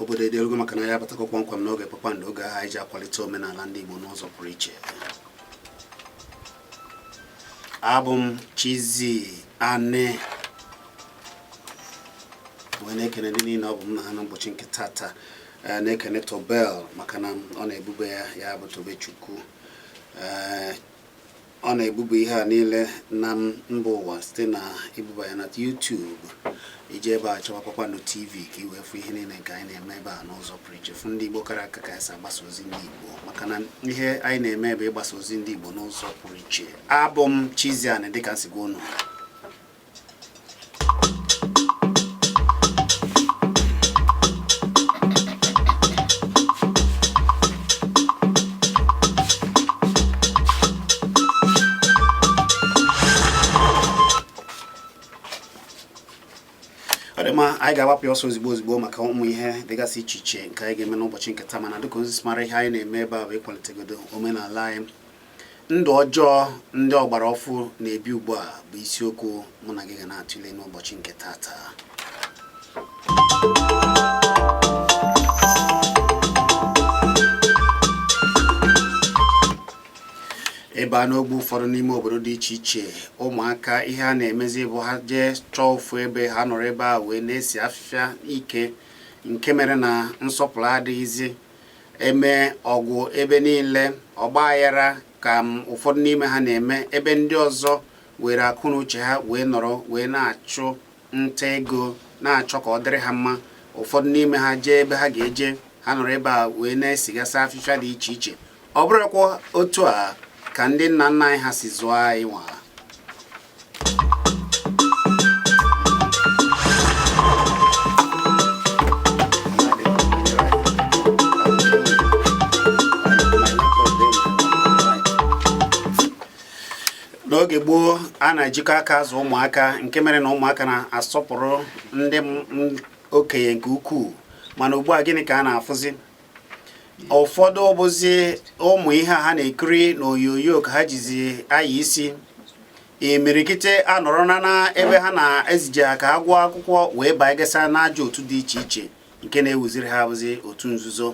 obodo edelugo maka na anyị abatago kpọmkwem n'oge kpakpando oge ahụ anyị ji akwalite omenala ndị Igbo n'ụzọ pụrụ iche abụ m Chizzy Ani wee na-ekene ndị niile ọ bụ m na ha n'ụbọchị nke tata eh, na-ekene Tobel maka na ọ na-ebuba ya ya bụ Tobechukwu eh, ọ na-ebuba ihe a niile na mba ụwa site na ibuba ya na YouTube i jee ebe a chọwa Kpakpando TV ka i wee fụ ihe niile nke anyị na-eme ebe a n'ụzọ pụrụ iche fụ ndị Igbo kara aka ka anyị si agbasa ozi ndị Igbo maka na ihe anyị na-eme bụ ịgbasa ozi ndị Igbo n'ụzọ pụrụ iche abụ m Chizzy Ani dịka m si gwa unu ma anyị ga-agbapụ ya ọsọ ozigbo ozigbo maka ụmụ ihe dịgasị iche iche nke anyị ga-eme n'ụbọchị nke taa mana dịka i si mara ihe anyị na-eme ebe a bụ ịkwalitegodo omenala anyị Ndụ ọjọọ ndị ọgbara ọfụ na-ebi ugbu a bụ isiokwu mụ na gị ga na-atụle n'ụbọchị nke tata. ebe a n'ogbe ụfọdụ n'ime obodo dị iche iche ụmụaka ihe a na-emezi bụ ha jee chọọ ofu ebe ha nọrọ ebe a wee na-esi afịfịa ike nke mere na nsọpụrụ adịghịzi eme ọgwụ ebe niile ọgbaghara ka ụfọdụ n'ime ha na-eme ebe ndị ọzọ were akọ na uche ha wee nọrọ wee na-achụ nta ego na-achọ ka ọ dịrị ha mma ụfọdụ n'ime ha jee ebe ha ga-eje ha nọrọ ebe a wee na-esigasị afịfịa dị iche iche ọ bụrụkwa otu a ka ndị nna nna anyị ha si zụọ anyị nwa n'oge gboo a na-ejikọ aka azụ ụmụaka nke mere na ụmụaka na-asọpụrụ ndị okenye nke ukwuu mana ugbu a gịnị ka a na-afụzi ụfọdụ bụzi ụmụ ihe ha na-ekiri n'onyonyo ka ha jizi anya isi imirikite anọrọ na na ebe ha na-ezije ha ka ha gụọ akwụkwọ wee bagasịa n'ajọ otu dị iche iche nke na-ewuziri ha bụzi otu nzuzo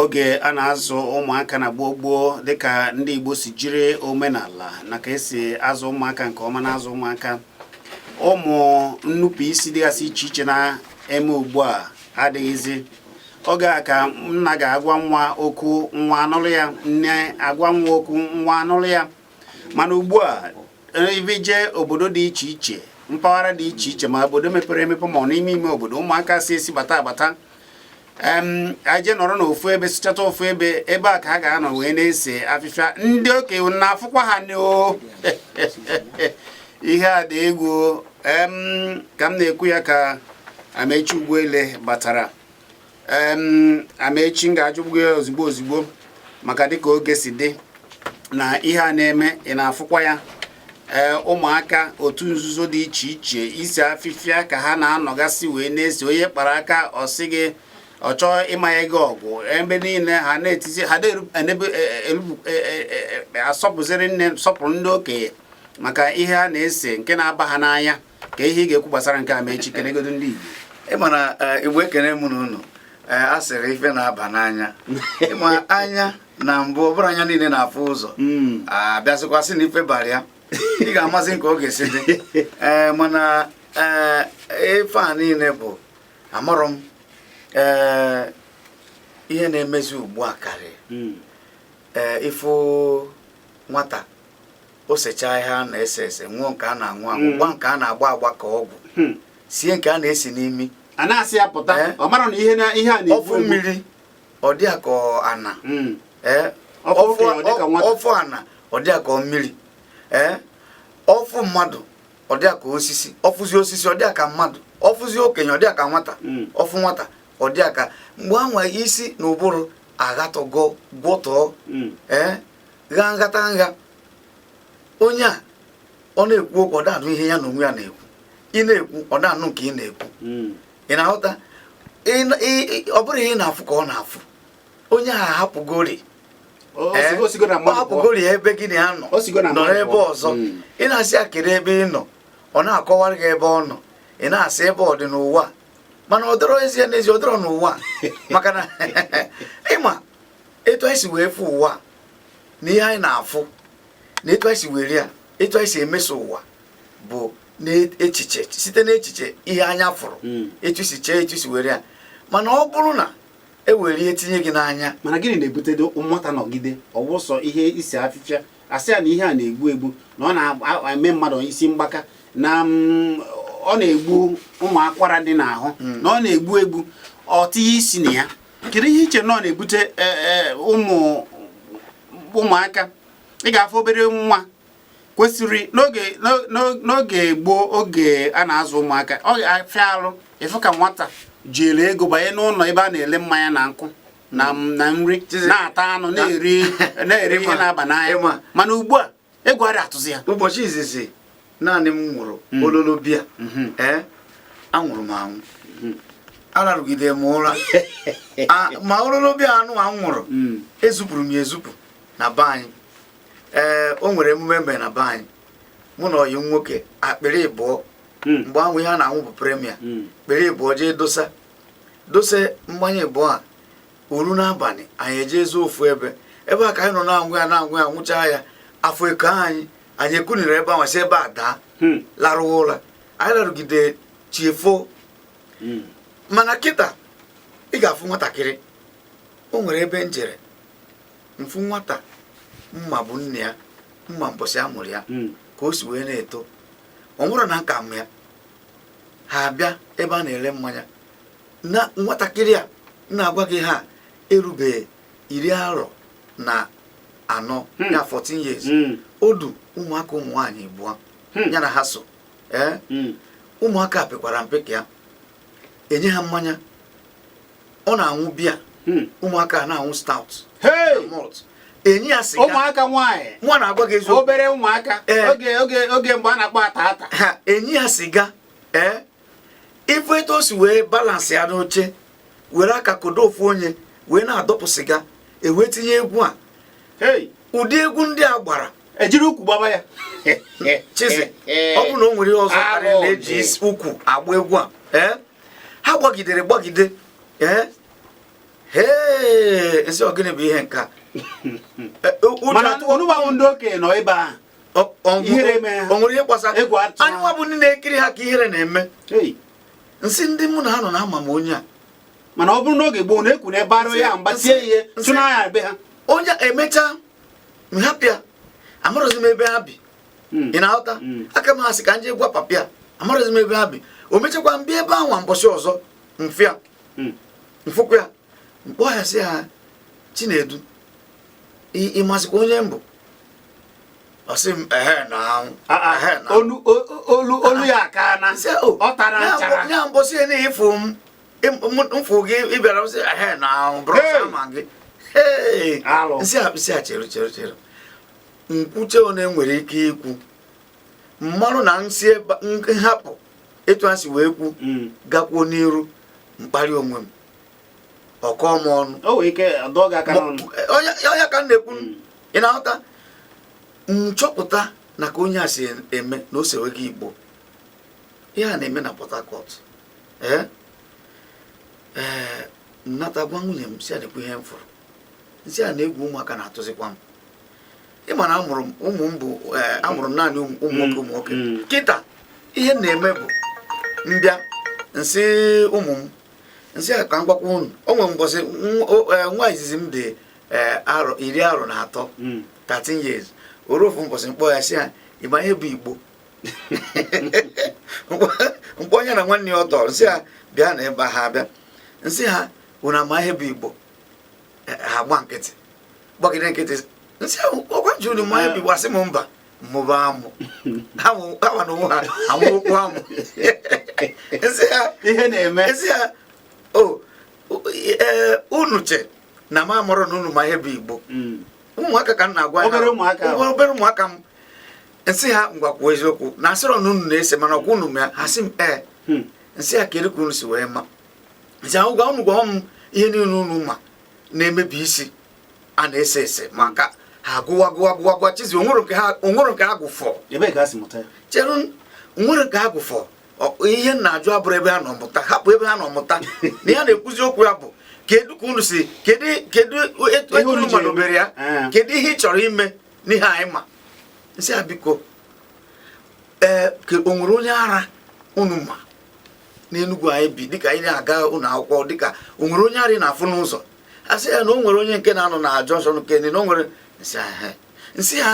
oge a na-azụ ụmụaka na gboo gboo dịka ndị Igbo si jiri omenala na ka esi azụ ụmụaka nke ọma na-azụ ụmụaka ụmụ nnupụ isi dịgasị iche iche na-eme ugbu a adịghịzi oge a ka nna ga-agwa nwa okwu nwa anụrụ ya nne agwa nwa okwu nwa anụrụ ya mana ugbu a ebe jee obodo dị iche iche mpaghara dị iche iche ma obodo mepere emepe ma ọ n'ime ime obodo ụmụaka si esi bata abata aje nọrọ n'ofu ebe sịchata ofu ebe ebe a ka ha ga-anọ wee na-ese afịfịa ndị okenye na-afụkwa ha n'o ihe a dị egwu ka m na-ekwu ya ka Amaechi Ugwuele batara Amaechi m ga-ajụba gị ozigbo ozigbo maka dịka oge si dị na ihe a na-eme ị na-afụkwa ya ee ụmụaka otu nzuzo dị iche iche ise afịfịa ka ha na-anọgasị wee na-ese onye kpara aka ọ sị gị ọ chọọ ịmanye gị ọgwụ ebe niile ha na-etizi ha da-asọpụziri nne sọpụrụ ndị okenye maka ihe a na-ese nke na-aba ha n'anya kee ihe ị ga-ekwu gbasara nke a Amaechi kenegodu ndị Igbo ị ma na eh, Igbo ekene mụ na unu eh, a sịrị ife na-aba n'anya ị ma anya na mbụ ọ bụrọ anya niile na-afụ ụzọ hmm. a bịazikwa sị na ife bara ya ị ga-amazi nke oge si dị eh, mana ife a niile bụ amarọ m ihe na-emezi ugbu a karịa hmm. ee ị fụ nwata o sechaa ihe a na-ese ese ṅụọ nke a na-aṅụ aṅụ hmm. gba nke a na-agba agba ka ọgwụ hmm. sie nke a na-esi n'imi a na-asị ya pụta eh? ọ mara na ihe na ihe a na ọ fụ mmiri ọ dị ka ana hmm. eh? ọ fụ ana ọ dị ka mmiri eh? ọ fụ mmadụ ọ dị ka osisi ọ fụzi osisi ọ dị ka mmadụ ọ fụzi okenye ọ dị ka nwata ọ fụ nwata ọ dị ka mgbe anwa isi na ụbụrụ aghatọgo gwọtọọ ee gha nghata nha onye a ọ na-ekwu okwu ọ da-anụ ihe ya na onwe ya na-ekwu ị na-ekwu ọ da-anụ nke ị na-ekwu hmm. ị na-aghọta ọ bụrọ ihe ị na-afụ ka ọ na-afụ onye ahụ ahapụgori ahapụgori ebe gị na ya nọ nọrọ ebe ọzọ hmm. ị na-asị ya kedu ebe ị nọ ọ na-akọwara gị ebe ọ nọ ị na-asị ebe ọ dị n'ụwa mana ọ dọrọ ezie n'ezie ọ dọrọ n'ụwa maka na ị ma etu anyị si wee fụ ụwa na ihe anyị na-afụ na etu anyị si were ya etu anyị si emeso ụwa bụ n'echiche site n'echiche ihe anya fụrụ hmm. etu i si chee etu i si were ya mana ọ bụrụ na e were ihe tinye gị n'anya mana gịnị na-ebute nwata nọgide ọ wụ sọ ihe ise afịfịa a sị ya na ihe a na-egbu egbu na ọ na-eme mmadụ isi mgbaka na mm, ọ na-egbu ụmụ akwara dị n'ahụ hmm. na ọ na-egbu egbu o tinye isi na ya kedu ihe i che na ọ na-ebute e, e, ụmụ ụmụaka ị ga-afụ obere nwa kwesịrị n'oge gboo oge a na-azụ ụmụaka ọ ga-afịa arụ ịfụ ka nwata jiri ego banye n'ụlọ ebe a na-ele mmanya na nkwụ na nri na-ata anụ na-eri ihe na-aba n'anya mana ugbu a egwu adị atụzi ya ụbọchị izizi naanị m nwụrụ hmm. ololo biya hmm. ee anwụrụ m anwụ hmm. ararụgide m ụra ma ololo biya nụwa m nwụrụ ezupụrụ m ya ezupụ na be anyị ee o nwere mmemme na be anyị mụ na ọyị m nwoke akpịrị ịbụọ mgbe ahụ ihe a na-anwụ bụ Premier kpịrị ịbụọ jee dosa dose mmanya ịbụọ a o ru n'abalị anyị eje zoo ofu ebe ebe a ka anyị nọ na-anwụ ya na-anwụ ya nwụchaa ya afọ eko anyị anyị ekuniri ebe ahụ si ebe a daa hmm. larụwa ụra anyị larụgide chi efo hmm. mana kịta ị ga-afụ nwatakịrị o nwere ebe m jere m fụ nwata m ma bụ nne ya m ma mbọsị a mụrụ ya hmm. ka o si wee na-eto ọ nwụrụ na nka m ya ha abịa ebe a na-ele mmanya na nwatakịrị a na-agwa gị ha erubeghị iri arọ na anọ hmm. ya 14 years hmm. o du ụmụaka ụmụ nwaanyị ịbụọ hmm. ya na ha so ee eh? ụmụaka pekwara mpe ka ya enye ha mmanya ọ na-anwụ biya ụmụaka na-anwụ stout malt enye ya sịga ụmụaka nwaanyị nwa na-agwa gị eziokwu obere ụmụaka eh. oge oge oge mgbe a na-akpọ ata ata enye ya sịga ee eh? ị fụ etu o si wee balance ya n'oche were aka kodo ofu onye wee na-adọpụ sịga e wee tinye egwu a ụdị egwu ndị a gbara e jiri ukwu gbaba ya chizi ọ bụ na o nwere ihe ọzọ karịa na e ji ukwu agba egwu a eh? ha gbagidere gbagide eh? ee m sị ọ gịnị bụ ihe nka eh, mana onugbu ndị okenye nọ ebe ahụ ihere eme o nwere ihe gbasara egwu atụ anyị nwa bụ ndị na-ekiri ha ka ihere na-eme m sị ndị mụ na ha nọ na ama m onye a mana ọ bụrụ n'oge gboo na-ekwu na ebe arụ ya mgbasie ihe tụ n'anya be ha onye e mecha m hapụ ya amarọzi m ebe ha bi hmm. ị na-aghọta hmm. aka m asị ka m jee gwa papa ya amarọzi m ebe ha bi o mechakwa m bịa ebe ahụ mbọsị ọzọ m fụ ya hmm. m fụkwa ya m kpọ ya sị ya Chinedu ị mazikwa onye m bụ ọ sị m ehe na anwụ ah, ah, ehe na olu olu olu ya aka na oh, ọ tara nchara ya mbọsị na ịfụ m mfụ gị ịbịara sị ehe na anwụ bụrụ sama gị nsị a nsị a chere chere chere nkwuchaa one m nwere ike ikwu mmarụ na nsị nhapụ etu a si wee kwu mm. gakwuo n'iru mkparị onwe m ọ kọọ m ọnụ onye ka m na-ekwu mm. ị na-aghọta nchọpụta na ka onye a si eme na o sewego igbo ihe a na-eme na port harcourt ee eh? ee eh, nnata gwa nwunye m sị ya nekwa ihe m fụrụ nsị ya na egwu ụmụaka na-atụzikwa m ị ma na amụrụ m ụmụ m bụ eh, amụrụ m naanị ụmụ nwoke ụmụ nwoke mm, mm. kịta ihe m na-eme bụ mbịa nsị ụmụ m nsị ha ka m gwakwa unu o nwere mbọsị nwa izizi m dị eh, arọ iri arọ na atọ 13 hmm. years o ru ofu mbọsị mkpọ ya sị ya ị ma ihe bụ igbo mkpọọ ya na nwanne ya ọdọ nsị ha bịa n'ebe a ha abịa nsị ha unu ama ihe bụ igbo eh, ha gba nkịtị gbagide nkịtị nsị ha ọkwa unu ma ihe bụ igbo ha sị m mba mmụba amụ ha nwa na onwe ha amụọkwu amụ nsị ha ihe na-eme nsị ha o oh, eh, unu che na m amarọ na unu ma ihe bụ igbo hmm. ụmụaka ka m na-agwa obere ụmụaka m nsị ha ngwa kwuo eziokwu na asịrọ na unu na-ese mana ọkwa unu ma ha sị m ee eh. hmm. nsị ha kedu ka unu si wee ma nsị ha ngwa unu gwa m ihe niile unu ma na-emebi isi a na-ese ese maka ha gụwa gụwa gụwa gụwa chizi o nwere nke ha gụfọ chere o nwere nke ha gụfọ ihe m na-ajụ abụrọ ebe ha nọ mụta hapụ ebe ha nọ mụta ihe a na-ekwuzi okwu ya bụ kedu ka unu si kedu kedu etu unu madobere ya eh. kedu ihe ị chọrọ ime n'ihe anyị ma nsị ha biko ee eh, ka o nwere onye ara unu ma n'enugwu anyị bi dịka anyị na-aga ụlọ akwụkwọ dịka o nwere onye ara ị na-afụ n'ụzọ ha sị ya na o nwere onye nke na-anọ na jọnshọn nke na o nwere nsị ahụ nsị ha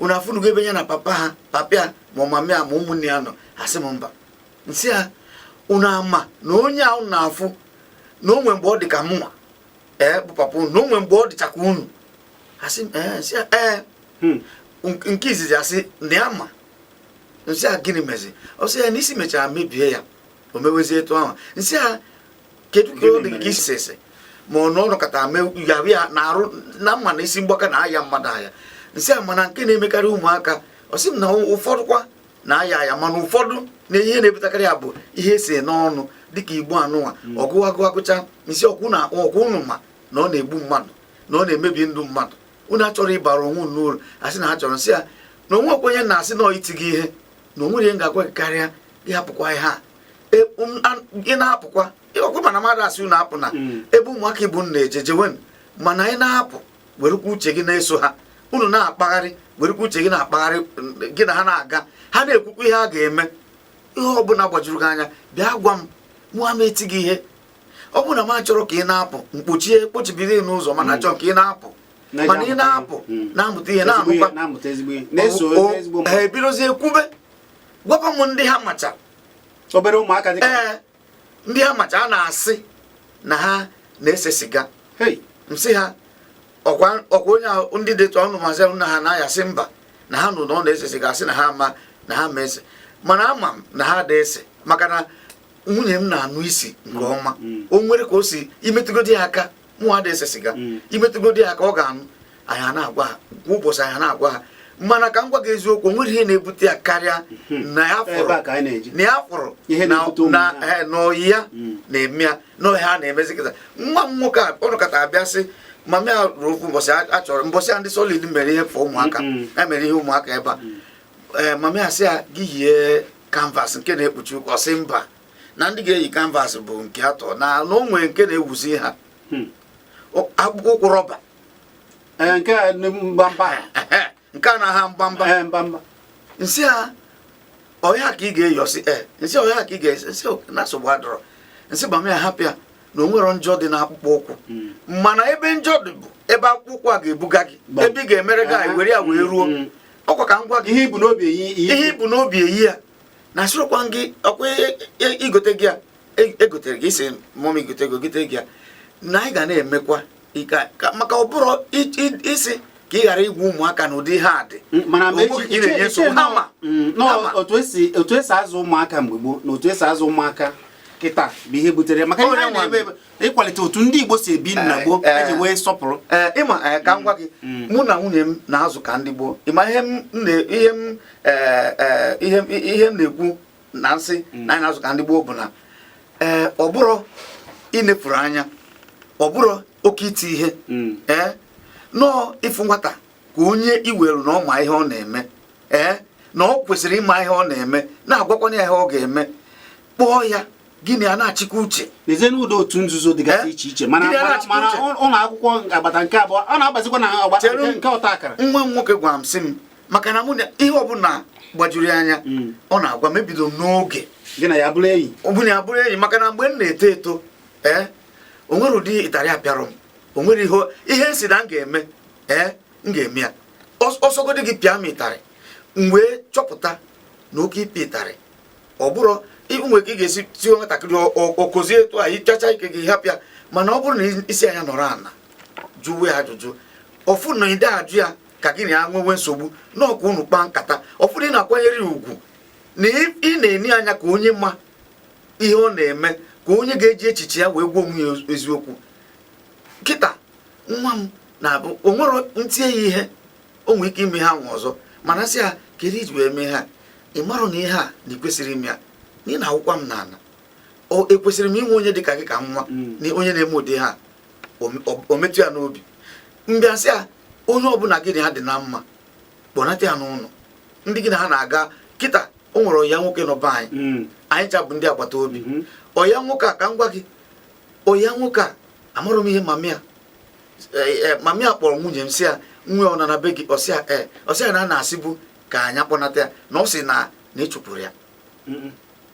unu afụnugo ebe ya na papa ha papa ya ma ọ mama ya ma ụmụnne ya nọ ha sị m mba nsị ha unu ama na onye a unu na-afụ na onwe mgbe ọ dị ka mụnwa ee bụ papa unu na o nwe mgbe ọ dịcha ka unu ha sị m ee nsị ha ee hmm. nke izizi asị na ya ma nsị ya gịnị mezi ọ sị ya na isi mechara mebie ya o mewezie etu ahụ nsị ha kedu ka ọ dị gị ka isi ese ma ọ nọkata yahụ ya na arụ na mma na isi mgbaka na-aya mmadụ aya nsị a mana nke na-emekarị ụmụaka ọ sị m na ụfọdụkwa na-aya aya mana ụfọdụ na ihe na-ebutakarị ya bụ ihe e se n'ọnụ dịka igbo anụnwa hmm. ọgụ agụ agụcha nsị ọkwa na ọkwa unu ma na ọ na-egbu mmadụ na ọ na-emebi ndụ mmadụ unu achọrọ ịbara onwe unu uru a sị na ha chọrọ nsị ya na onwe okwenye na-asị na iti gị ihe na o nwerọ ihe m ga-agwa gị karịa ịhapụkwa ihe a e, um, ị na-apụkwa ọkwa mana mmadụ asị unu apụna hmm. ebe ụmụaka ibe unu na-eje jewenụ mana ị na-apụ werekwa uche gị na-eso ha unu na-akpagharị werekwa uche gị na-akpagharị gị na ha na-aga ha na-ekwukwa ihe a ga-eme ihe ọ bụla gbajuru gị anya bịa gwa m mụ ama eti gị ihe ọ bụrụ na m achọrọ ka ị na-apụ m kpochie kpochibido n'ụzọ mana achọrọ ka ị na-apụ mana ị na-apụ hmm. na-amụta ihe na-amụkwa ha ebidozie kwube gwakwa m ndị ha macha obere ụmụaka dị ee ndị ha macha a na-asị na ha na-ese siga m sị ha ọkwa onye ahụ ndị detụ ọnụ mazi na ha na-aya sị mba na ha nụ na ọ na-ese siga a sị na ha ma na ha ma ese mana ama m na ha da ese maka na nwunye m na-anụ isi nke mm, ọma mm. o nwere ka o si imetụgodi ya aka mụnwa ada ese siga mm. i metụgodi ya aka ọ ga-anụ anyị a na-agwa ha kwa ụbọchị anyị a na-agwa ha mana ka m gwa gị eziokwu nwere ihe na-ebute ya karịa mm-hmm. na ya fụrụ na ya fụrụ na eh, na ọyị ya mm. na-eme ya na ọ ihe ha na-emezi kịta nwa m nwoke a ọ nọkata abịa sị mama ya ruo ofu mbọsị a chọrọ mbọsị a ndị solid mere ihe for ụmụaka ya mere ihe ụmụaka ebe a ee mama ya sị ya gị yie canvas nke na-ekpuchi ụkwụ ọ sị mba na ndị ga-eyi canvas bụ nke atọ na na o nwere nke na-ewuzi ha Hmm. O- akpụkpọ ụkwụ rọba Ee, nke a ndị mgbamba a. ehe, nke a na-aha mgbamba Ee, mgbamba nsị a ọ ya ka ị ga-eyi ọ sị ee nsị ọ ya ka ị ga-eyi nsị o- na nsogbu adịrọ nsị mama ya hapụ ya na o nwerọ njọ dị n'akpụkpọ ụkwụ Mm. mana ebe njọ dị bụ ebe akpụkpọ ụkwụ a ga-ebuga gị Gbam. ebe ị ga-emere gị anyị were ya wee ruo Mm. ọkwa ka m gwa gị ihe i bu n'obi eyi ihe i bu n'obi eyi ya na asịrịkwa gị ọkwa e, e, e, igote gị ya egotere gị isi mụọ m igote gị ogote gị ya na anyị ga na-emekwa maka ọ bụrụ ị sị ka ị ghara igwu ụmụaka n'ụdị ihe a dị otu e si azụ ụmụaka mgbe gboo na otu e si azụ ụmụaka kịta bụ ihe butere maka ihe na-eme ịkwalite otu ndị Igbo si ebi na gboo eh, eji eh, wee sọpụrụ eh, ị ma ka m gwa gị mm, mm. mụ na nwunye m na-azụ ka ndị gboo ị ma ihe m na-ekwu na nsị mm. na anyị na-azụ ka ndị gboo bụ na ee ọ bụrọ inefuru anya ọ bụrọ oke iti ihe ee no ị fụ nwata ka onye i were na ọ ma ihe ọ na-eme ee na ọ kwesịrị ịma ihe ọ na-eme na-agwakwanye ya ihe ọ ga-eme kpọọ ya gị na ya na-achịkọ uche n'ezie n'ụdị otu nzuzo dịgasị eh? iche iche ma n'ụlọ akwụkwọ agbata nke abụọ ọ na-agbazikwa na agbata nke ọta akara nwa m nwoke gwara m sị m maka na mụ na ihe ọbụla gbajuru ya anya hmm. ọ na-agwa m ebido m n'oge gị na ya bụrụ enyi ọbụna ya bụrụ enyi maka na mgbe m na-eto eto ee eh, o nwere ụdị ịtarị a pịarụ m o nwere ihe m sị na m ga-eme ee m ga-eme ya ọ sọgodi gị pịa m ịtarị m wee chọpụta na oke ịpịa ịtarị ọ bụrụ nwere ka ị ga-esi tie nwatakịrị okozie etu a ịchacha ike gị hapụ ya mana ọ bụrụ na ị sị ya nọrọ ala jụwa ya ajụjụ ọ fụ na ide ajụ ya ka gị na ya nwewe nsogbu na ọ ka unu kpaa nkata ọ fụ na ị na-akwanyere ya ugwu na ị na-ene ya anya ka onye ma ihe ọ na-eme ka onye ga-eji echiche ya wee gwa onwe ya eziokwu kịta nwa m na-abụ o nwere m tie ya ihe o nwere ike ime ihe anwa ọzọ mana m sị ya kedu ihe i ji wee mee ihe a ị marọ na ihe a na ị kwesịrọ ime ya na ị na-awụkwa m n'ala ekwesịrị m inwe onye dị ka gị ka nwa mm. na onye na-eme ụdị ihe a o metụ ya n'obi m bịa sị ya onye ọbụla gị na ha dị na mma kpọnata ya n'ụlọ ndị gị na ha na-aga kịta o nwere ọyị ya nwoke nọ be anyị mm. anyị ncha bụ ndị agbata obi mm-hmm. ọyị ya nwoke a ka m gwa gị ọyị ya nwoke a amarọ m ihe mama ya eh, eh, mama ya kpọrọ nwunye m sị ya nwa ya ọ nọ na be gị ọ sị ya ee eh, ọ sị ya na a na-asịbu ka anyị kpọnata ya na ọ sị na na ị chụpụrụ ya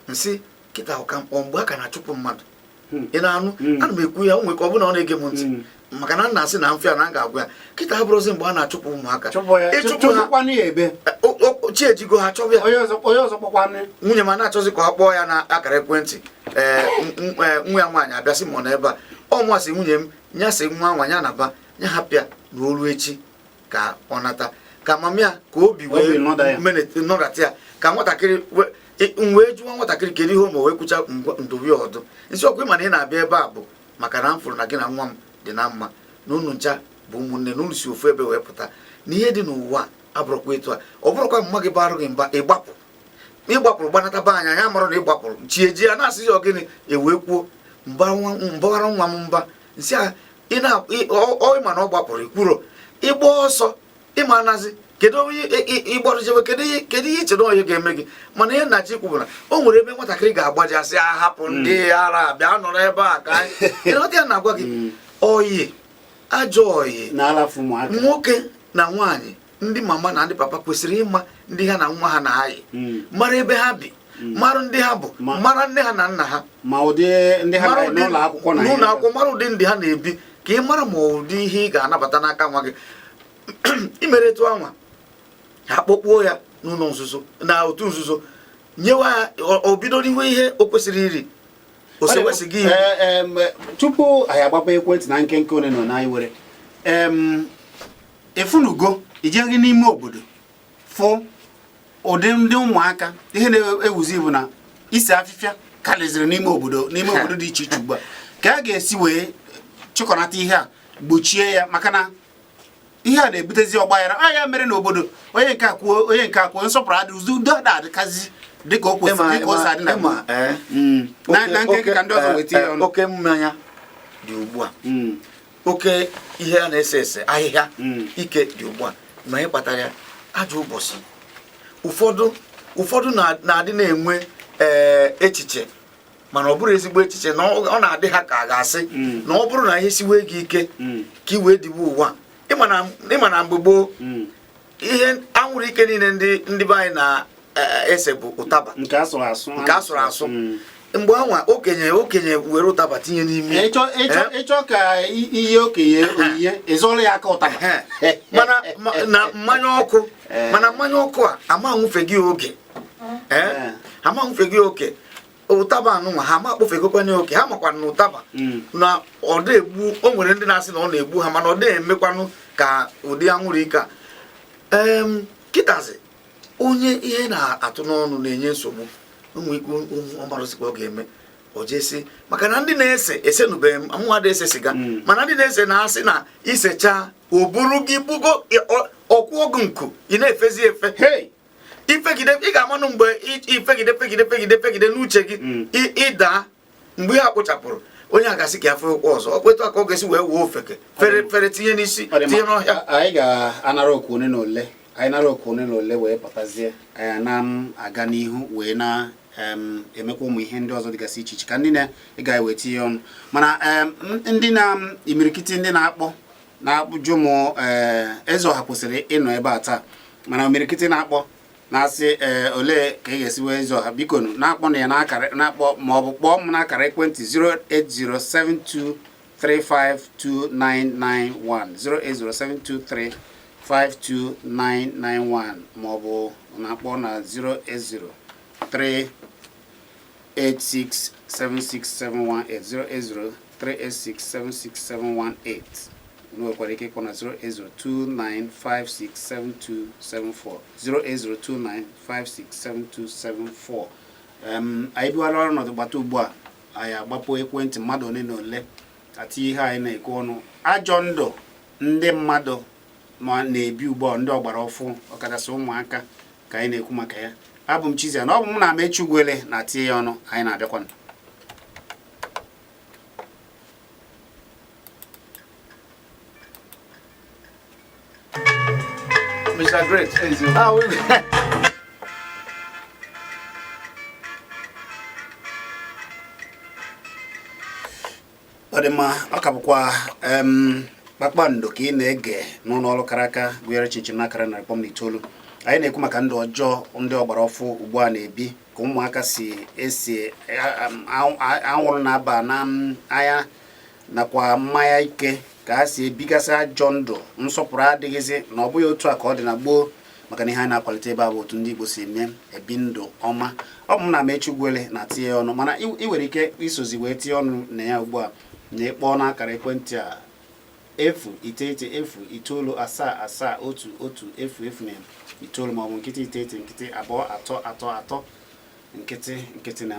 m sị kịta ụka mkpọ mgbe a ka na-achụpụ mmadụ hmm. ị na-anụ hmm. ana m ekwu ya o nwere ka ọ bụ na ọ na-ege m ntị hmm. maka na m na-asị na m fụ ya na a ga-agwa ya kịta abụrọzi mgbe a na-achụpụ ụmụaka chi ejigo ha chọba ya nwunye m a na-achọzi ka ọ kpọọ ya na akara ekwentị ee eh, eh, nwa ya nwaanyị abịa sị m ọ nọ ebe a o m asị nwunye m nya sị nwa nwaanyị a naba ya hapụ ya na o lue echi ka ọ nata ka mama ya ka obi wee nọdata ya ka nwatakịrị m wee jụọ nwatakịrị kedu ihe o mere wee kwucha m dụba ya ọdụ m sị ọkwa ị ma na ị na-abịa ebe a bụ maka na m fụrụ na gị na nwa m dị na mma na unu ncha bụ ụmụnne na unu si ofu ebe wee pụta na ihe dị n'ụwa abụrọkwa etu a ọ bụrụkwa mma gị barụ gị mba ị gbapụ ị gbapụrụ gbanata be anyị ya mara na ị gbapụrụ chi ejie ya na-asị ya ọ gịnị e wee kwuo m bawara nwa m mba m sị ya ị ma na ọ gbapụrụ i kwuru ịgba ọsọ ị ma anazi kedu onye ị gbarụ jewe kedu ihe kedu ihe i che na onye ga-eme gị mana ihe m na-achọ ikwu bụ na o nwere ebe nwatakịrị ga-agbaje a sị ya hapụ hmm. ndị ara bịa nọrọ ebe a ka anyị ya na-agwa gị hmm. ọyị ajọ ọyị nwoke na nwaanyị ndị mama na ndị papa kwesịrị ịma ndị ha na nwa ha na-ayị hmm. mara ebe ha bi hmm. mara ndị ha bụ mara nne ha na nna ha ma ụdị ndị ha n'ụlọ akwụkwọ na n'ụlọ akwụkwọ mara ụdị ndị ha na-ebi ka ị mara ma ụdị ihe ị ga-anabata n'aka nwa gị i mere etu anwa ha kpọkpuo ya n'ụlọ nzuzo na otu nzuzo nyewa ya o bido riwe ihe o kwesịrị iri o sewe siga ihe eh, eh, tupu anyị agbaba ekwentị na nkenke one na one anyị nwere ị fụnụgo ijeghị n'ime obodo fụ ụdị ndị ụmụaka ihe na-ewuzi bụ na ise afịfịa karịzịrị n'ime obodo n'ime obodo dị iche iche ugbu a ka a ga-esi wee chịkọnata ihe a gbochie ya maka na ihe a na-ebutezi ọgbaghara a ya mere na obodo onye nke akwuo onye nke akwuo nsọpụrụ adị ụzọ udo ada adịkwazị dịka o kwesịrị dịka o si adị na eh, mm. na nke ka ndị ọzọ wee tinye ọnụ eh, oke mmanya dị ugbu a mm. oke ihe a na-ese ese ahịhịa hmm. ike dị ugbu a ma ihe kpatara ya ajọ ụbọchị ụfọdụ ụfọdụ na-adị na-enwe eh, echiche mana ọ bụrọ ezigbo echiche na ọ na-adị ha ka a ga-asị hmm. na ọ bụrụ na ihe siwe gị ike hmm. ka i wee diwe ụwa ị ma na mgbe gboo ihe anwụrụ ike niile ndị ndị be anyị na-ese e, bụ ụtaba nke a sụrụ asụ nke a sụrụ asụ hmm. mgbe anwa okenye okenye were ụtaba tinye n'imi ị chọ eh? ka ihe okenye eh. onyinye ị zọrọ ya aka ụtaba eh. mana na mmanya ọkụ mana mmanya ọkụ a ama nwụfe gị oke ama nwụfe gị oke ụtaba anụnwa ha ma kpọfegokwanụ oke ha makwa na ụtaba hmm. na ọ dị egbu o nwere ndị na-asị na ọ na-egbu ha mana ọ dị emekwanụ ka ụdị anwụrụ ike a kịtazi onye ihe na-atụ n'ọnụ na-enye nsogbu ụmụ ikwu ọ marọzịkwa ọ ga-eme o jesi maka na ndị na-ese esenụbeghị m mụnwa adị ese siga hmm. mana ndị na-ese na-asị na i sechaa o buru gị bugo ọ kwụọ gị nku ị na-efezi efe i fegide ị ga-amanụ mgbe i fegide fegide fegide fegide n'uche gị hmm. ị daa mgbe ihe a kpochapụrụ onye a ga-asị ka ya fee ụkwụ ọzọ ọ kpetụ aka ọ ga-esi wee wuo ofeke fere fere tinye n'isi tinye n'ọhịa anyị ga-anara oku one na ole anyị nara oku one na ole wee pụtazie anyị na m aga n'ihu wee na-emekwa ụmụ ihe ndị ọzọ dịgasị iche iche ka ndị na-ege wee tinye ọnụ mana ndị na imirikiti ndị na-akpọ na-ajụ m eh, eze ọha kwesịrị ịnọ ebe a taa mana imirikiti na-akpọ na-asị ee eh, olee ka ị ga-esi wee eze ọha biko na-akpọnụ ya na-akpọ ma ọ bụ kpọọ m n'akara ekwentị 08072352991 08072352991 ma ọ bụ na-akpọ na 080 08038676718 08038676718 nwekwara ike ịkpọ na 08029567274 08029567274 anyị bidola ọrụ nọdụ gbata ugbu a anyị agbapụ ekwentị mmadụ ole na ole ati ihe anyị na-ekwu ọnụ ajọ ndụ ndị mmadụ na-ebi ugbu a ndị ọgbara ọfụ ọkachasị ụmụaka ka anyị na-ekwu maka ya abụ m Chizzy na ọ bụ m na Amechi Ugwuele na-atinye ya ọnụ anyị na-abịakwanụ Mr. Great. ọ dị mma ọ ka bụkwa kpakpando ka ị na-ege n'ụlọ ọrụ kara aka gụnyere chịm chịm n'akara narị kpọm na itoolu anyị na-ekwu maka ndụ ọjọọ ndị ọgbara ọfụ ugbu a na-ebi ka ụmụaka si ese anwụrụ na-aba n'anya nakwa mmanya ike ka ha si ebigasị ajọ ndụ nsọpụrụ adịghịzị na ọ bụghị otu a ka ọ dị na gboo maka na ihe anyị na-akwalite ebe a bụ otu ndị Igbo si eme ebi ndụ ọma ọ bụ m na Amechi Ugwuele na-atinye ọnụ mana ị nwere ike isozi wee tinye ọnụ na ya ugbu a na ịkpọọ n'akara ekwentị a efu iteghete efu itoolu asaa asaa otu otu efu efu na itoolu maọbụ nkịtị iteghete nkịtị abụọ atọ atọ atọ nkịtị nkịtị na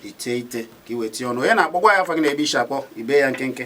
iteghete ka i wee tinye ọnụ onye na-akpọ gwa anyị afa gị na ebe i si akpọ i bee ya nkenke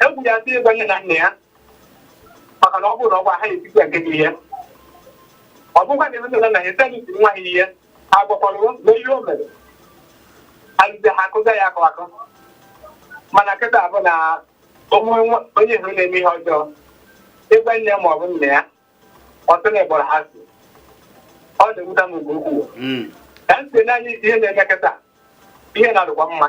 egwu ya atụ ịgwa nne na nna ya maka na ọ bụrụ na ọ gwa ha etiti ya nke gị ihe ọ bụkwa na nne na nna ya sịrị isi nwa ha ihe agwakwara na ihe o mere alụzi ha akụza ya akụ akụ mana kịta bụ na o nwee nwa onye ị hụrụ na-eme ihe ọjọọ ị gwa nne ya ma ọ bụ nna ya ọ sị na ị kpọrọ ha asị ọ na-ewuta m nke ukwuu Mm. ka m si n'anya ihe na-eme kịta ihe na-adịkwa mma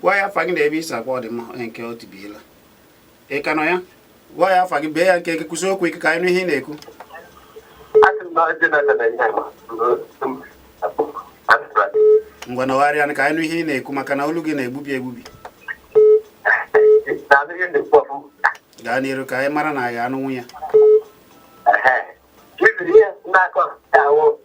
gwa anyị afa gị na ebe i si akpọ ọ dị mma onye nke o tibiela ị ka nọ ya gwa anyị afa gị bee ya nkenke kwusie okwu ike ka anyị nụ ihe ị na-ekwu ngwa nọgharịa ka anyị nụ ihe ị na-ekwu maka na olu gị na-egbubi egbubi gaa n'iru ka anyị mara na anyị anụnwu ya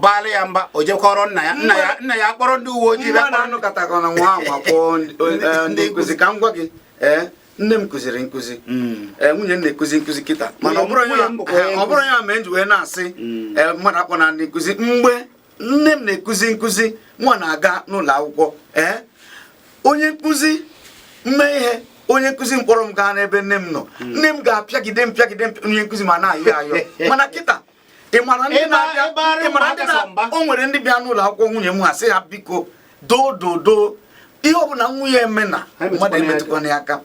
baara ya mba o jekọrọ nna ya nna ya nna ya kpọrọ ndị uwe ojii bịa anụkọtakọna nwa anwa kpọọ e, ndị nkụzi ka m gwa gị ee nne m kụziri nkụzi hmm. e, nwunye m na-ekụzi nkụzi kịta mana ọ bụrọ ya m ji wee na-asị hmm. e, mmadụ akpọ na ndị nkụzi mgbe nne m na-ekụzi nkụzi nwa na-aga n'ụlọ akwụkwọ ee onye nkụzi m mee ihe onye nkụzi m kpọrọ m gaa n'ebe nne m nọ hmm. nne m ga-apịagide m pịagide onye nkụzi m ana-ayọ ayọ mana kịta ị mara ndị Ịba- na-abịa ịba arụ ị mara mba ndị na- kasị mba. o nwere ndị bịa n'ụlọ akwụkwọ nwunye m ha sị ha biko doo doo doo ihe ọbụla nwa ya eme na Ha emetụkwana mmadụ ya emetụkwana ya aka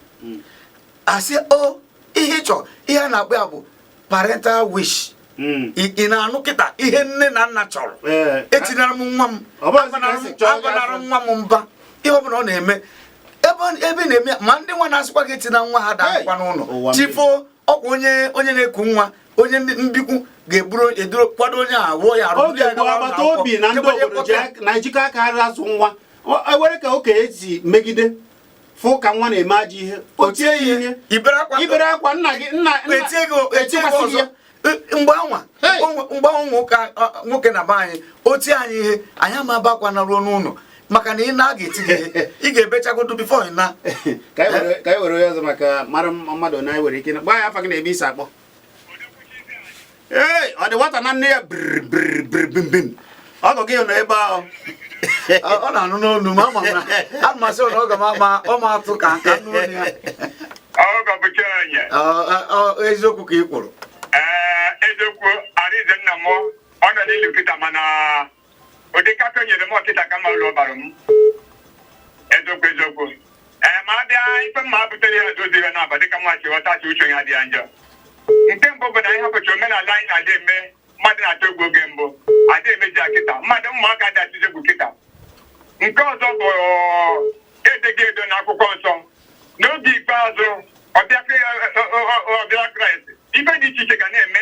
asị o ihe ị chọrọ ihe a na-akpọ ya bụ parental wish Mm. ị ị na-anụ kịta ihe nne na nna chọrọ Ee. etinara m nwa m Ọ bụghị ka agbanara esi m- chọọ ya agbanara afọ. nwa m mba ihe ọbụla ọ na-eme ebe ọ- ebe ị na-eme ya, ma ndị nwa na-asịkwa gị etina nwa ha daakwa Hey, ụwa n'ụlọ mmiri. chifo ọkwa onye onye na-eku nwa onye mbikwu ga-eburu eduru kwado onye a wụọ ya arụ oge mbụ agbata obi na ndị obodo na-ejikọ aka ha azụ nwa ewere e ka okenye si megide fụ ka nwa na-eme ajọ ihe o tie ya ihe i bere akwa nna gị nna etikwasị gị ya mgbe anwa mgbe anwa nwoke na be anyị o tie anyị ihe anyị ama ebe akwa naruo n'ụlọ maka na ị naa a ga-eti gị ị ga-ebechagodo bifo ị naa ka anyị were onye ọzọ maka mara mmadụ na anyị nwere ike gwa anyị afa gị na ebe i si akpọ ee ọ dị nwata na nne ya brbrbrbimbim ọgụ gị nọ ebe ahụ ọ na-anụ n'olu ma ama na amasị na ọ ga ma ọ ma atụ ka nka nụ ya eziokwu ka ị kwuru ee eziokwu Arinze nna m ọ nọ n'ilu kịta mana ụdị nkata o nyere m kịta ka mma ụlọ ọbara m eziokwu eziokwu ee ma a bịa ife m ma butere ya dị ụzọ naabọ dịka mụwa si ghọta sị uche ya dị ya njọ nke mbụ bụ na anyị hapụcha omenala anyị na-adị eme mmadụ na-atụ egwu oge mbụ adị emeji ya kịta mmadụ ụmụaka adị atụzi egwu kịta nke ọzọ bụ e dego ede na akwụkwọ nsọ n'oge ikpeazụ ọbịa Kra- ọ- ọ- ọ- ọbịa Kraịst ife dị iche iche ga na-eme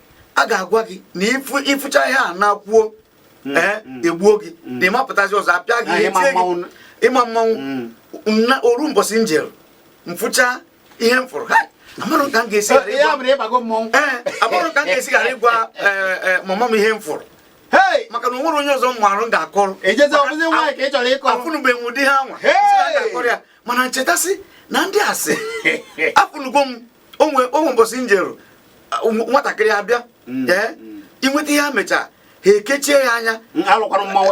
a ga-agwa gị na ị fụcha ihe a naa kwuo mm, ee eh, mm. egbuo gị mm. na ịmapụtazi ọzọ apịa gị etie gị ịma mmanwụ na o ru mbọsị njeru m fụcha ihe m fụrụ amarụ ka m ga-esi ghara eh, eh, ịgwa mama m ihe m fụrụ maka na onwere onye ọzọ m marụ m ga-akọrọ afụnụbeghị m ụdị ihe anwa mana ncheta sị na ndị a sị afụnugo m onwe onwe mbọsị njeru nwatakịrị abịa mm. ee eh, mm. inweta ihe a mechaa ha ekechie ya anya mm,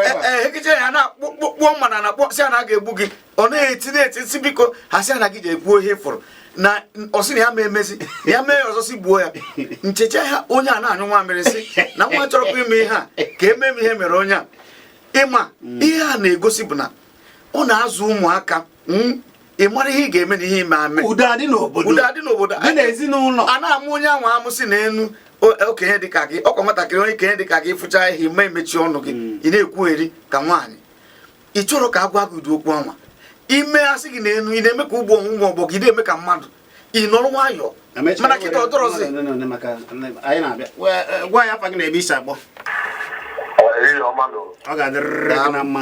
eh, eh, ekechie ya na kpụọ mana na kpọsị a na ga-egbu gị ọ na-eti na-eti si biko ha sị na gị je ekwuo ihe ị fụrụ na ọ sị na ya ma emezi ya mee ọzọ si gbuo ya nchecha ha onye a na-anyụ nwamịrị sị na m achọrọkwa ime ihe a ka e mee m ihe e mere onye a ị ma ihe a na-egosi bụ na ọ na-azụ ụmụaka hmm? ị mara ihe ị ga-eme na ihe ị ma eme udo adị n'obodo udo adị n'obodo dị n'ezinụlọ a na-amụ onye ahụ amụ sị nenu okenye dịka gị ọkwa nwatakịrị okenye dịka gị fụcha ihe ma emechi ọnụ gị hmm. ị na-ekwugheri ka nwaanyị ị chọrọ ka a gwa gị ụdị okwu anwa i mee a sị gị nenu ị na-eme ka ọgbọ ụmụ ọgbọ gị na-eme ka mmadụ ị nọrọ nwayọọ mana kịta ọ dịrọzi gwa anyị afa gị na ebe i si akpọ ọ ga-adịrịrị gị na mma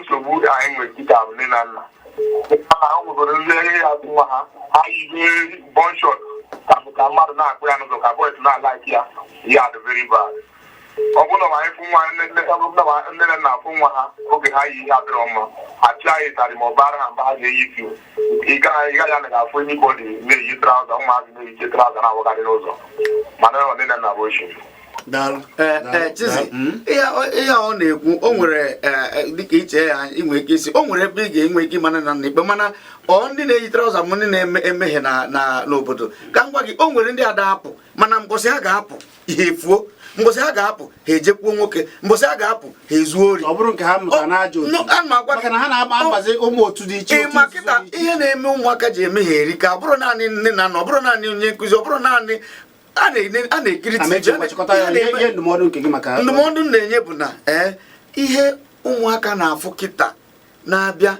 nsogbu anyị nwere kịta bụ nne na nna ha nwegoro ndị ihe ya bụ nwa ha ha yibe bum short ka ka mmadụ na-akpụ ya n'ụzọ ka boys na-alike ya ihe a dị very bad ọ bụrụ na anyị fụ nwa nne na nna afụ nwa ha oge ha yi ihe adịrọ mma achị anyị tarị ma ọ bara ha mba ha ga-eyi fiu ị gaghị anaghị afụ anybody na-eyi trouser ụmụazị na-eyicha trouser na-awagharị n'ụzọ mana ọ nne na nna bụ ochi daalụ Eh, daalụ, eh, Chizzy, daalụ. Mm. ihe ọ- ihe ọ na-ekwu o nwere eh, eh, dịka i chee ya i nwee ike ịsị o nwere ebe ị ga-enwe ike ịma nna ikpe mana ọ ndị na-eyi trouser ma ndị na-emehie na na- n'obodo ka m gwa gị o nwere ndị ada apụ mana mbọsị ha ga-apụ ihe efuo mbọsị ha ga-apụ ha ejekwuo nwoke mbọsị ha ga-apụ ha ezuo ori ọ bụrụ nke ha mụta n'ajọ maka na ha na-agba mgbazi ụmụ otu dị iche ị ma kịta ihe na-eme ụmụaka ji emehie erika ọ bụrọ naanị nne na nna ọ bụrọ naanị onye nkụzi ọ bụrọ naanị a na-ekiri ndụmọdụ m na-enye bụ na ee eh, ihe ụmụaka na-afụ kịta na-abịa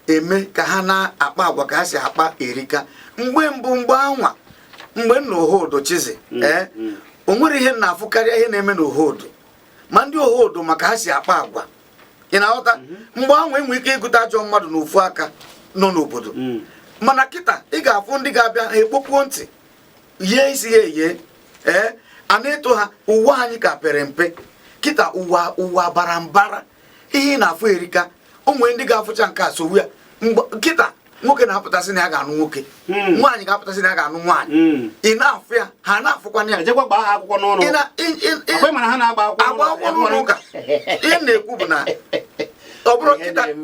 eme ka ha na-akpa agwa ka ha si akpa erika mgbe mbụ mgbe anwa mgbe m nọ Ohodo Chizi mm, ee eh, mm. o nwere ihe m na-afụ karịa ihe na-eme na Ohodo ma ndị Ohodo maka ha si akpa agwa ị na-aghọta mm-hmm. mgbe anwa e nwere ike ịgụta ajọ mmadụ na ofu aka nọ n'obodo mm. mana kịta ị ga-afụ ndị ga-abịa ha ekpokwuo ntị yie isi ya eyie ee eh, a na-eto ha ụwa anyị ka pere mpe kịta ụwa ụwa bara mbara ihe ị na-afụ erika o nwere ndị ga-afụcha nke a sowe ya kịta nwoke na-apụta sị na ya ga-anụ nwoke hmm. nwaanyị ga-apụta sị na ya ga-anụ nwaanyị hmm. ị na-afụ ya ha na-afụkwana ya agba akwụkwọ n'ụlọ ụka ihe m na-ekwu bụ na ọ bụrụ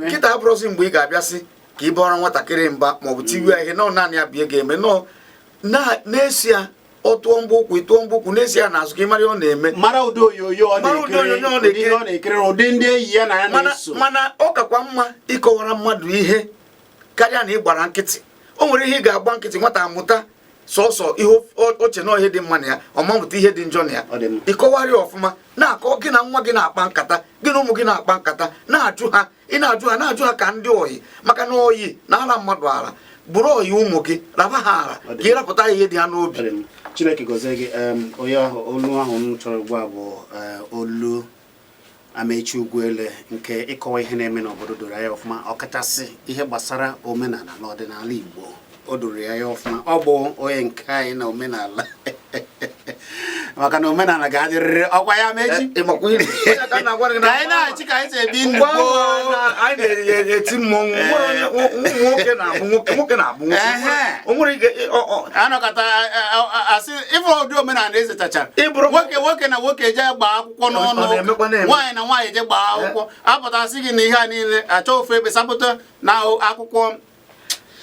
kịta abụrọzi mgbe ị ga-abịa sị ka ị bara nwatakịrị mba maọbụ tiwe ihe na naanị ya bụ ihe ị ga-eme nọọ na-eso ya ọ tụọ mgba ụkwụ ị tụọ mgba ụkwụ na-eso ya n'azụ ka ị mara ihe ọ na-eme mara ụdị onyonyo ọ na-ekiri ụdị ndị enyi ya na ya na-eso mana ọ kakwa mma ịkọwara mmadụ ihe karịa na ị gbara nkịtị o nwere ihe ị ga-agba nkịtị nwata amụta sọsọ ihe o che na ihe dị mma na ya ọ ma amụta ihe dị njọ na ya ị kọwara ya ọfụma na-akọ gị na nwa gị na-akpa nkata gị na ụmụ gị na-akpa nkata na-ajụ ha ị na-ajụ ha na-ajụ ha ka ndị oyi maka na oyi na-ara mmadụ ara bụrụ oyi ụmụ gị raba ha ara ka ị rapụta ihe dị ha n'obi chineke gọzie gị onye ahụ olu ahụ m chọrọ ugbu a bụ eh, olu amaechi ugwuele nke ịkọwa ihe na-eme n'obodo doro ya ọfụma ọkachasị ihe gbasara omenala na ọdịnala igbo o doro ya ọfụma ọ bụ onye nke anyị na omenala maka na omenala ga-adịrịrị ọkwa ya amaechi eh, ka anyị na-achị ka anyị si ebi ndụ anyị na-eti mmọnwụ nwoke na-abụ nwoke nwoke na-abụ nwoke anọkọta a sị ị fụ ụdị omenala ezetachara nwoke nwoke na nwoke je gbaa akwụkwọ n'ọnụ nwaanyị na nwaanyị je gbaa akwụkwọ eh. a pụta a sị gị na ihe a niile achọ ofu ebe sapụta na akwụkwọ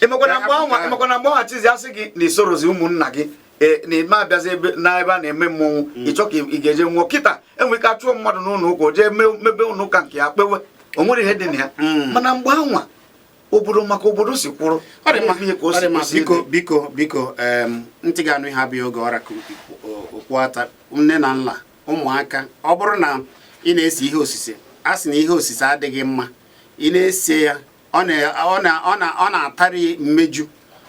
emekwana mgbe anwa emekwana mgbe anwa chizzy a sị gị na i sorozi ụmụnna gị e, na-eme abịazi ebe na ebe a na-eme mmọnwụ mm. ị chọọ ka ị ga-eje nwụọ kịta e nwere ike a chụọ mmadụ n'ụlọ ụka jee mebe ụlọ ụka nke ya kpewe o nwere ihe dị na ya mm. mana mgbe anwa obodo maka obodo si kwụrụ biko biko biko ntị ga-anụ ihe abụghị oge ọ ra ka okpu ata nne na nna ụmụaka ọ bụrụ na ị na-ese ihe osise a sị na ihe osise adịghị mma ị na-ese ya ọ na-atarị mmeju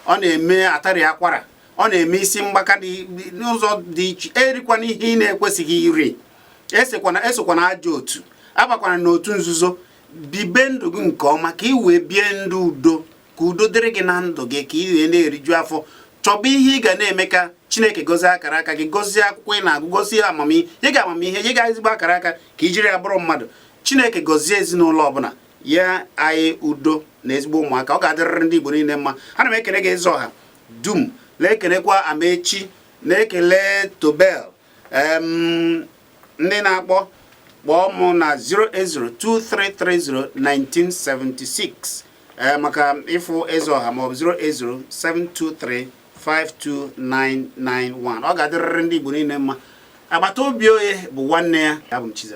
ọ na-eme atarị akwara ọ na-eme isi mgbaka n'ụzọ dị iche erikwana ihe ị na-ekwesịghị iri esokwana ajọ otu abakwana n'otu nzuzo bibe ndụ gị nke ọma ka ị wee bie ndụ udo ka udo dịrị gị na ndụ gị ka ị wee na-eriju afọ chọba ihe ị ga na-eme ka chineke gọzie akara aka gị gọzie akwụkwọ ị na-agụ gọzie amamihe nye gị amamihe nye gị ezigbo akara aka ka i jiri ya bụrụ mmadụ chineke gọzie ezinụlọ ọbụla nye anyị udo na ezigbo ụmụaka ọ ga-adịrịrị ndị Igbo niile mma ana m ekele gị eze ọha dum na-ekelekwa Amaechi na-ekele Tobel ndị na-akpọ kpọọ mụ na 08023301976 ee maka ịfụ eze ọha maọbụ 08072352991 ọ ga-adịrịrị ndị Igbo niile mma agbata obi onye bụ nwanne ya abụ m Chizzy